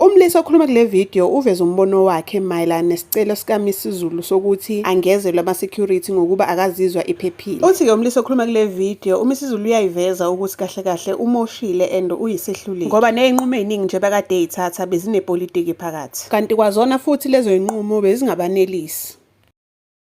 Umlisa okhuluma kule video uveze umbono wakhe mayelana nesicelo sikaMisizulu sokuthi angezelwe ama-security ngokuba akazizwa iphephile. Uthi-ke umlisa okhuluma kule video uMisizulu uyayiveza ukuthi kahle kahle umoshile and uyisehluleki ngoba ney'nqumo ey'ningi nje bekade ey'thatha bezinepolitiki phakathi kanti kwazona futhi lezo y'nqumo bezingabanelisi.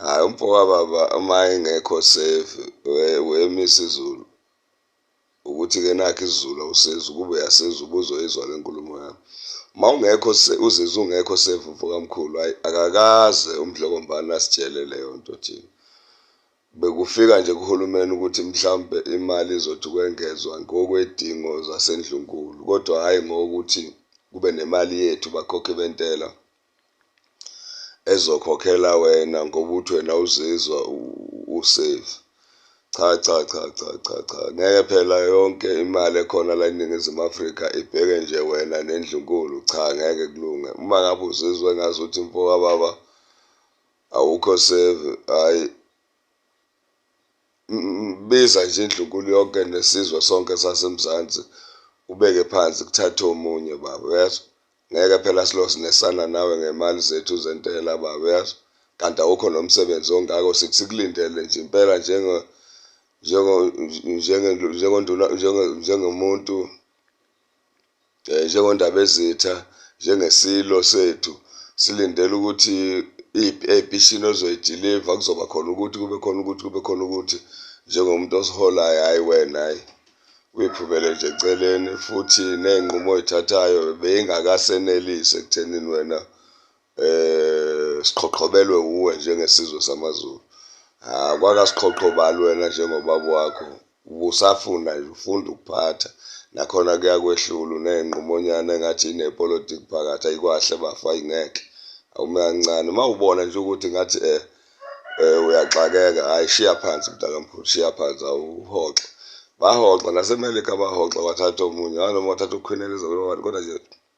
Hhayi umfowababa uma engekho safe wema isiZulu ukuthi-ke nakho isiZulu awusizi ukube uyasiza ubuzoyizwa le nkulumo yami. Uma ungekho uzizwa ungekho safe mfokamkhulu hhayi akakaze umdlokombane asitshele leyo nto thina. Bekufika nje kuhulumeni ukuthi mhlawumpe imali izothi ukwengezwa ngokwedingo zasendlunkulu kodwa hhayi ngokuthi kube nemali yethu bakhokhi bentela ezokhokhela wena ngoba uthi wena uzizwa usafe. Cha cha cha cha cha cha ngeke phela yonke imali ekhona la eNingizimu Afrika ibheke nje wena nendlunkulu, cha ngeke kulunge. Uma ngabe uzizwa engazuthi mfowababa awukho save, hhayi biza nje indlunkulu yonke nesizwe sonke sasemzansi ubeke phansi kuthathe omunye baba uyezwa ngeke phela silosi nesana nawe ngemali zethu zentela baba uyezwa kanti awukho nomsebenzi ongako sithi sikulindele nje impela njenge njengenduna njengomuntu eh, njengondabezitha njengesilo sethu silindele ukuthi ebishini ozoyidiliva kuzoba khona ukuthi kube khona ukuthi kube khona ukuthi njengomuntu osiholayo hhayi wena hhayi uyiphumele nje eceleni futhi ney'nqumo oyithathayo beyingakasenelisi ekuthenini wena eh siqhoqhobelwe uwe njengesizwe samaZulu ah kwakasiqhoqhobali wena njengobaba wakho ubusafuna nje ufunda ukuphatha nakhona kuyakwehlula uneyinqumonyana engathi inepolitiki phakathi ayikwahle bafa ingeke awume kancane uma ubona nje ukuthi ngathi eh eh uyaxakeka hayi shiya phansi mntakamkhulu shiya phansi awuhoxe bahoxa nasemelika bahoxa wathatha omunye nganoma wathatha ukhwineleza kodwa nje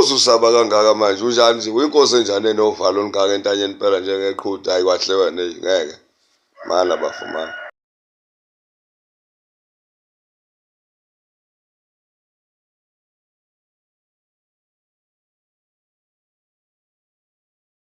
Uzusaba kangaka manje unjani nje uyinkosi enjani enovalo olungaka entanyeni impela njengeqhuda hayi kwahle wena ngeke mana bafumana